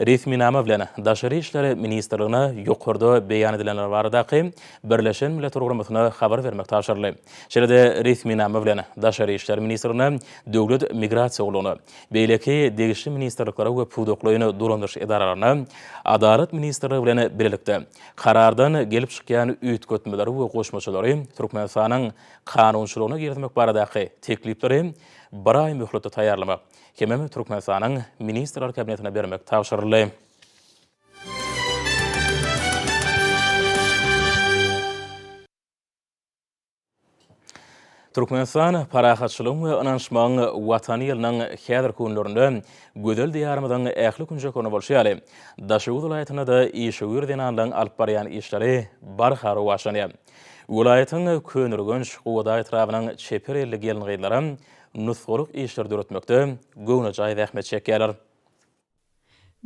Resminama bilen Daşary işler ministrligine ýokarda beýan edilenler baradaky Birleşen Milletler Guramasyna habar bermek tabşyryldy. Şeýle-de resminama bilen Daşary işler ministrligine, Döwlet migrasiýa gullugyna, beýleki degişli ministrliklere we pudaklaýyn dolandyryş edaralaryna, Adalat ministrligi bilen bilelikde, Karardan gelip çykýan üýtgetmeleri we goşmaçalary Türkmenistanyň kanunçylygyna girizmek baradaky teklipleri bir aý möhletde taýýarlamak hemem Türkmenistanyň Ministrler Kabinetine bermek tabşyryldy. Türkmenistan parahatçylygyň we ynanyşmagyň Watany ýylynyň häzirki günlerinde gözel Diýarymyzyň ähli künjeklerinde bolşy ýaly, Daşoguz welaýatynda-da işewür zenanlaryň alyp barýan işleri barha rowaçlanýar. Welaýatyň Köneürgenç, Gubada etrabynyň çeper elli gelin-gyzlaram nusgalyk işleri döretmekde göwnejaý zähmet çekýärler.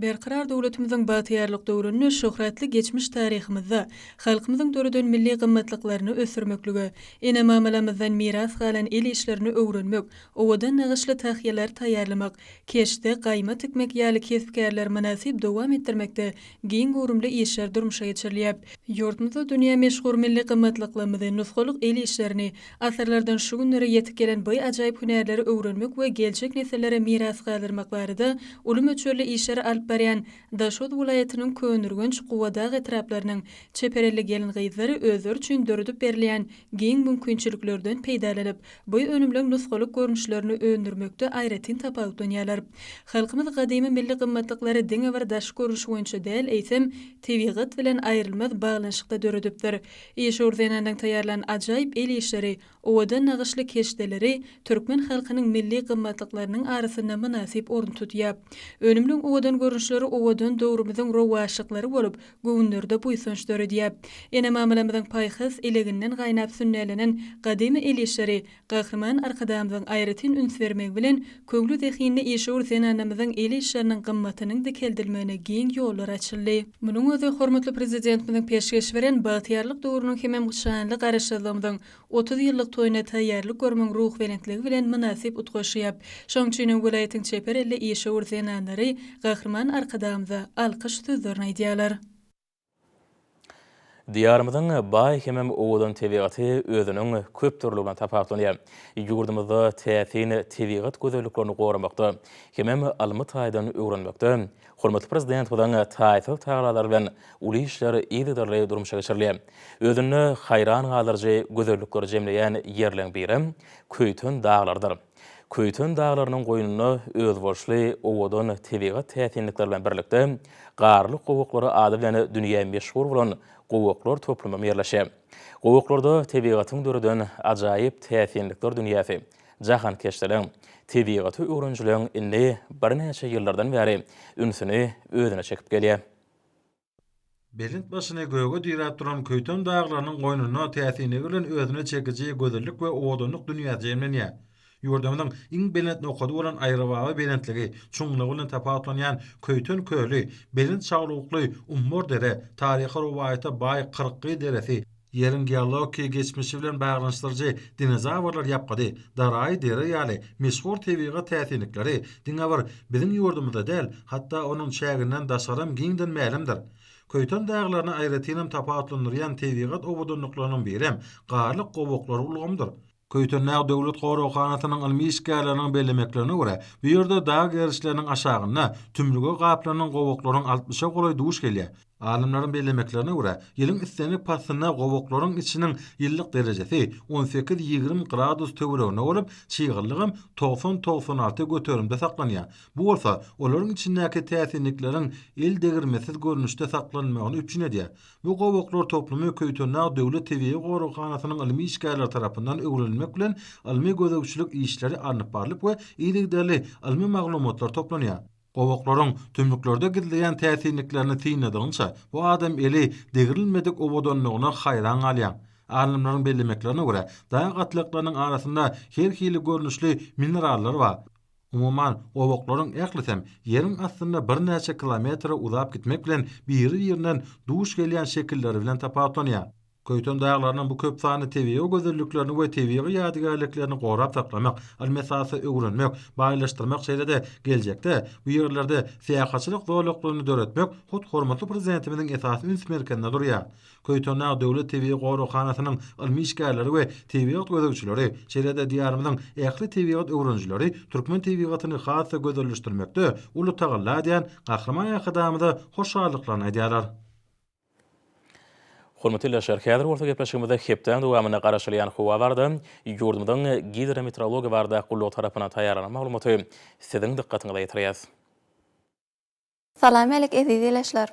Berkarar döwletimiziň bagtyýarlyk döwründe şöhratly geçmiş taryhymyzda halkymyzyň döreden milli gymmatlyklaryny ösdürmeklige, ene-mamalamyzdan miras galan el işlerini öwrenmek, owadan nagyşly tahýalary taýýarlamak, keşde, gaýma tikmek ýaly kesp-kärleri mynasyp dowam etdirmekde giň göwrümli işler durmuşa geçirilýär. Ýurdumyzda dünýä meşhur milli gymmatlyklarymyzy, nusgalyk el işlerini, Asyrlardan şu günlere ýetip gelen by ajaýyp hünärleri öwrenmek we geljek nesillere miras galdyrmak barada uly möçberli işleri alyp barýan Daşoguz welaýatynyň Köneürgenç, Gubadag etraplarynyň çeper elli gelin-gyzlary özleri üçin döredip berilýän giň mümkinçiliklerden peýdalanyp, by önümleň nusgalyk görnüşlerini öndürmekde aýratyn tapawutlanýarlar. Halkymyz gadymy milli gymmatlyklary diňe bir daşky görnüşi boýunça däl, eýsem, tebigat bilen aýrylmaz baglanyşykda döredipdir. Işewür zenanlaryň taýýarlan ajaýyp el işleri, owadan nagyşly keşdeleri türkmen halkynyň milli gymmatlyklarynyň arasynda mynasyp orun tutýar. Önümliň owadan görnüşleri owadan döwrümiziň rowaçlyklary bolup, göwünlerde buýsanç döredýär. Ene-mamalarymyzyň paýhas eleginden gaýnap sünnälenen gadymy el işleri Gahryman Arkadagymyzyň aýratyn üns bermegi bilen, köňli-zehinli işewür zenanamyzyň el işleriniň gymmatynyň dikeldilmegine giň ýollar açyldy. Munuň özi hormatly Prezidentimiziň peşgeş beren Bagtyýarlyk döwrüniň hemem şanly Garaşsyzlygymyzyň otuz ýyllyk toýuna taýýarlyk görmegiň ruhbelentligi bilen mynasyp utgaşýar. Şonuň üçin hem welaýatyň çeper elli işewür zenanlary Gahryman Arkadagymyza alkyş sözlerini aýdýarlar. Diýarymyzyň baý hemem owadan tebigaty özüniň köpdürlüligine tapawutlanýar. Ýurdumyzda täsin tebigat gözelliklerini goramakda hemem ylmy taýdan öwrenmekde hormatly Prezidentimiziň taýsyz tagalary bilen uly işler yzygiderli durmuşa geçirilýär. Özünde haýran galdyryjy gözellikleri jemleýän ýerleriň biri Köýten daglarydyr. Köýten daglarynyň goýnunda özboluşly owadan tebigat täsinlikleri bilen birlikde, Garly gowaklar ady bilen dünýä meşhur bolan gowaklar toplumym ýerleşýär. Gowaklarda tebigatyň döreden ajaýyp täsinlikler dünýäsi, jahankeşdiligiň, tebigaty öwrenijiligiň indi birnäçe ýyllardan bäri ünsüni özüne çekip gelýär. Belent başyny göge diräp duran Köýten daglarynyň goýnunda täsinligi bilen özüne çekiji gözellik we owadanlyk dünýä jemlenýär. Ýurdumyzyň iň belent nokady bolan Aýrybaba belentligi, çuňlugy bilen tapawutlanýan Köýten köli, belent şaglukly Ummar dere, taryhy rowaýata baý Kyrkgyz deresi, Ýeriň geologiki geçmişi bilen baglanyşdyryjy dinozawrlar ýapgydy, daraýy deri ýaly meşhur tebigy täsinlikleri diňe bir biziň ýurdumyzda däl, hatda onuň çäginden daşgaram giňden mälimdir. Köýten daglaryny aýratynam tapawutlandyrýan tebigat owadanlyklarynyň birem Garlyk gowaklar ulgamydyr. Köýtendag döwlet goraghanasynyň ylmy işgärleriniň bellemeklerine görä, bu ýerde dag gerişleriniň aşagynda tümlüge gaplanan gowaklaryň altmyşa golaý duş gelýär. Alymlaryň bellemeklerine görä, ýylyň islendik paslynda gowaklaryň içiniň ýyllyk derejesi on sekiz-ýigrimi gradus töwereginde bolup, çygallygam togsan-togsan alty göterimde saklanýar. Bu bolsa olaryň içindäki täsinlikleriň eldegirmesiz görnüşde saklanmagyny üpjün edýär. Bu gowaklar toplumy Köýtendag döwlet tebigy goraghanasynyň ylmy işgärleri tarapyndan öwrenilmek bilen, ylmy-gözegçilik işleri alnyp barlyp we yzygiderli ylmy maglumatlar toplanýar. Gowaklaryň tümlüklerde gizleýän täsinliklerini synladygyňça, bu adam eli degrilmedik owadanlygyna haýran galýaň. Alymlaryň bellemeklerine görä, dag gatlaklarynyň arasynda her hili görnüşli minerallar bar. Umuman, gowuklaryň ählisem ýeriň astynda birnäçe kilometre uzap gitmek bilen biri-birinden duş gelýän şekilleri bilen tapawutlanýar. Köýten daglarynyň bu köp sanly tebigy gözelliklerini we tebigy ýadygärliklerini gorap saklamak, ylmy-esasda öwrenmek, baýlaşdyrmak şeýle-de geljekde bu ýerlerde syýahatçylyk zolaklaryny döretmek hut hormatly Prezidentimiziň esasy üns merkezinde durýar. Köýtendag döwlet tebigy goraghanasynyň ylmy işgärleri we tebigat gözegçileri, şeýle-de Diýarymyzyň ähli tebigat öwrenijileri türkmen tebigatyny has-da gözelleşdirmekde uly tagalla edýän Gahryman Arkadagymyza hoşallyklaryny aýdýarlar. Hormatly ildeşler, häzir bolsa gepleşigimizde hepdäniň dowamynda garaşylýan howa barada, ýurdumyzyň Gidrometeorologiýa barada gullugy tarapyndan taýýarlanan maglumaty siziň dykgatyňyza ýetirýäs. Salam älik eziz ilaçlar!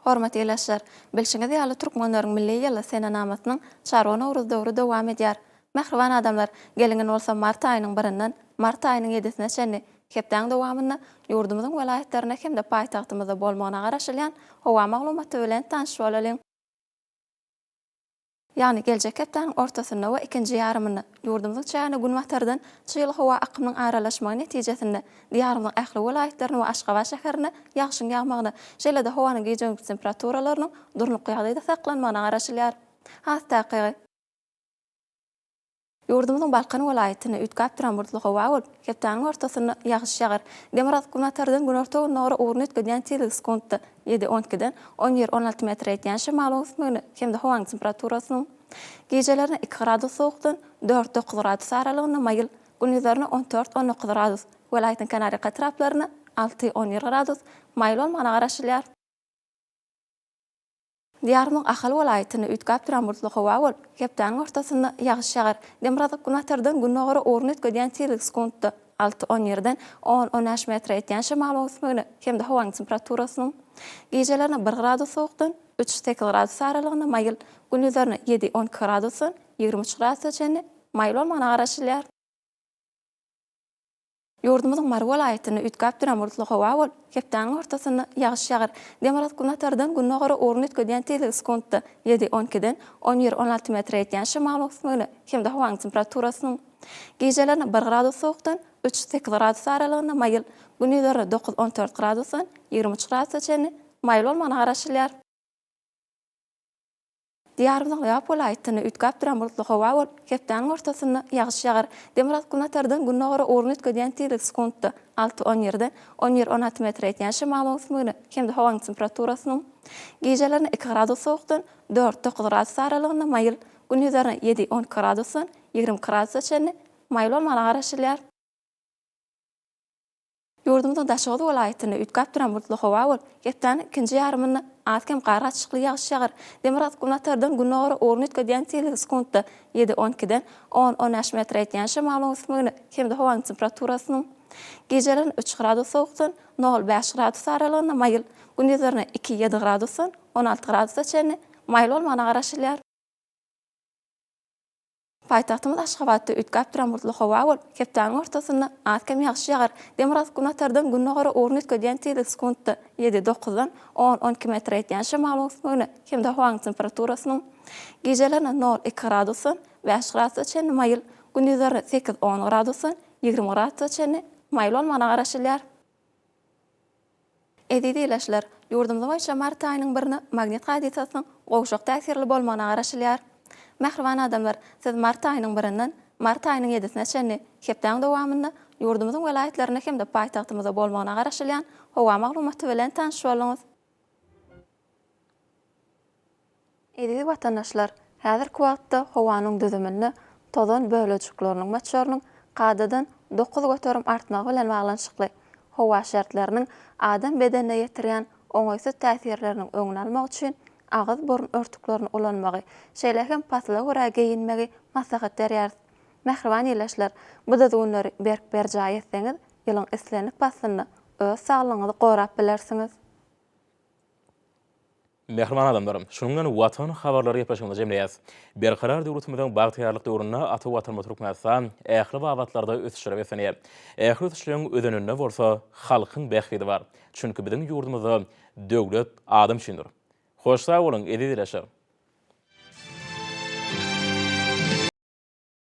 Hormatly ilaçlar! Bilşiňiz ýaly Türkmenleriň milli ýyly senenamasynyň Çarwa Nowruz döwri dowam edýär. Mähriban adamlar, geliň indi bolsa mart aýynyň birinden mart aýynyň ýedisine çenli hepdäň dowamynda ýurdumyzyň welaýatlarynda hem-de paýtagtymyzda bolmagyna garaşylýan howa maglumaty bilen tanyş bolalyň. Ýagny geljek hepdäniň ortasynda we ikinji ýarymynda ýurdumyzyň çägine günbatardan çygly howa akymynyň aralaşmagy netijesinde Diýarymyzyň ähli welaýatlarynda we Aşgabat şäherinde ýagşyň ýagmagyna, şeýle-de howanyň gije-gündiz temperaturalarynyň durnukly ýagdaýda saklanmagyna garaşylýar. Has takygy. Ýurdumyzyň Balkan welaýatyny üýtgäp duran bulutly howa bolup, hepdäniň ortasynda ýagyş ýagar. Demirgazyk günortadan günorta-gündogara ugruny üýtgedýän tizligi sekuntda ýedi, on ikiden on bir, on alty metre ýetýän şemalyň ösmegine hem-de howanyň temperaturasynyň gijelerine iki gradus sowukdan dört, dokuz gradus aralygynda maýyl, gündizlerine on dört, on dokuz gradus, welaýatyň kenarýaka etraplaryna alty, on bir gradus maýyl bolmagyna garaşylýar. Diýarymyň Ahal welaýatynda üýtgäp duran bulutly howa bolup, hepdäniň ortasynda ýagyş ýagar. Demirgazyk günbatardan gündogara ugruny üýtgedýän tizlik sekuntda alty, on ýerden on, on bäş metre ýetýän şemalyň öwüsmegine hem-de howanyň temperaturasynyň gijelerine bir gradus sowukdan üç, sekiz gradus aralygynda maýyl, gündizlerine ýedi, on iki gradusdan ýigrimi üç gradusa çenli maýyl bolmagyna garaşylýar. Ýurdumyzyň Mary welaýatynda üýtgäp duran bulutly howa bolup, hepdäniň ortasynda ýagyş ýagar. Demirgazyk günbatardan gündogara ugruny üýtgedýän tizligi sekuntda ýedi, on ikiden on bir, on alty metre ýetýän şemal öwüsmegine hem-de howanyň temperaturasynyň gijelerine bir gradus sowukdan üç, sekiz gradus aralygynda maýyl, gündizlerine dokuz, on dört gradusdan ýigrimi üç gradusa çenli maýyl bolmagyna garaşylýar. Diýarymyzyň Lebap welaýatynda üýtgäp duran bulutly howa bolup, hepdäniň ortasynda ýagyş ýagar. Demirgazyk-günbatardan gündogara ugruny üýtgedýän tizlik sekuntda alty-on ýerden on bir-on alty metr ýetýän şemalyň öwüsmegine hem-de howanyň temperaturasynyň gijelerine iki gradus sowukdan dört-dokuz gradus aralygynda maýyl, gündizlerine ýedi-on iki gradusdan ýigrimi iki gradusa çenli maýyl bolmagyna garaşylýar. Ýurdumyzyň Daşoguz welaýatynda üýtgäp duran bulutly howa bolup, hepdäniň ikinji ýarymynda az-kem gargaçlykly ýagyş ýagar. Demirgazyk günbatardan gündogara ugruny üýtgedýän seleriň sekuntda ýedi, on ikiden on, on bäş metre ýetýän şemalyň ösmegine hem-de howanyň temperaturasynyň gijeleriň üç gradus sowukdan nol, bäş gradus aralygynda maýyl, gündizlerine iki, ýedi gradusdan on alty gradusa çenli maýyl bolmagyna garaşylýar. Paýtagtymyz Aşgabatda üýtgäp duran bulutly howa bolup, hepdäniň ortasynda az-kem ýagyş ýagar. Demirgazyk günatardan gündogara ugruny üýtgedýän tizlik sekuntda ýedi, dokuzdan on, on iki metre ýetýän şemalyň öwüsmegine hem-de howanyň temperaturasynyň gijelerine nol, iki gradusdan bäş gradusa çenli maýyl, gündizlerine sekiz, on gradusdan ýigrimi gradusa çenli maýyl bolmagyna garaşylýar. Eziz ilaçlar, ýurdumyz boýunça mart aýynyň birini magnit hadysasynyň gowşak täsirli bolmagyna garaşylýar. Mähriban adamlar, siz mart aýynyň birinden mart aýynyň ýedisine çenli hepdäň dowamynda ýurdumyzyň welaýatlarynda hem-de paýtagtymyzda bolmagyna garaşylýan howa maglumaty bilen tanyş bolduňyz. Eziz watandaşlar, häzirki wagtda howanyň düzüminde tozan bölejikleriniň möçberiniň kadadan dokuz göterim artmagy bilen baglanyşykly, howa şertleriniň adam bedenine ýetirýän oňaýsyz täsirleriniň öňüni almak üçin agyz-burun örtüklerini ulanmagy, şeýle hem pasla görä geýinmegi maslahat berýäris. Mähriban ildeşler, bu düzgünleri berk berjaý etseňiz, ýylyň islendik paslynda öz saglygyňyzy gorap bilersiňiz. Mähriban adamlar! Şunuň bilen Watan habarlary gepleşigimizi jemleýäs. Berkarar döwletimiziň bagtyýarlyk döwründe ata Watanymyz Türkmenistan ähli babatlarda ösüşlere beslenýär. Ähli ösüşleriň özeninde bolsa halkyň bähbidi bar. Çünki biziň ýurdumyzda döwlet adam üçindir. Hoş sag boluň, eziz ildeşler!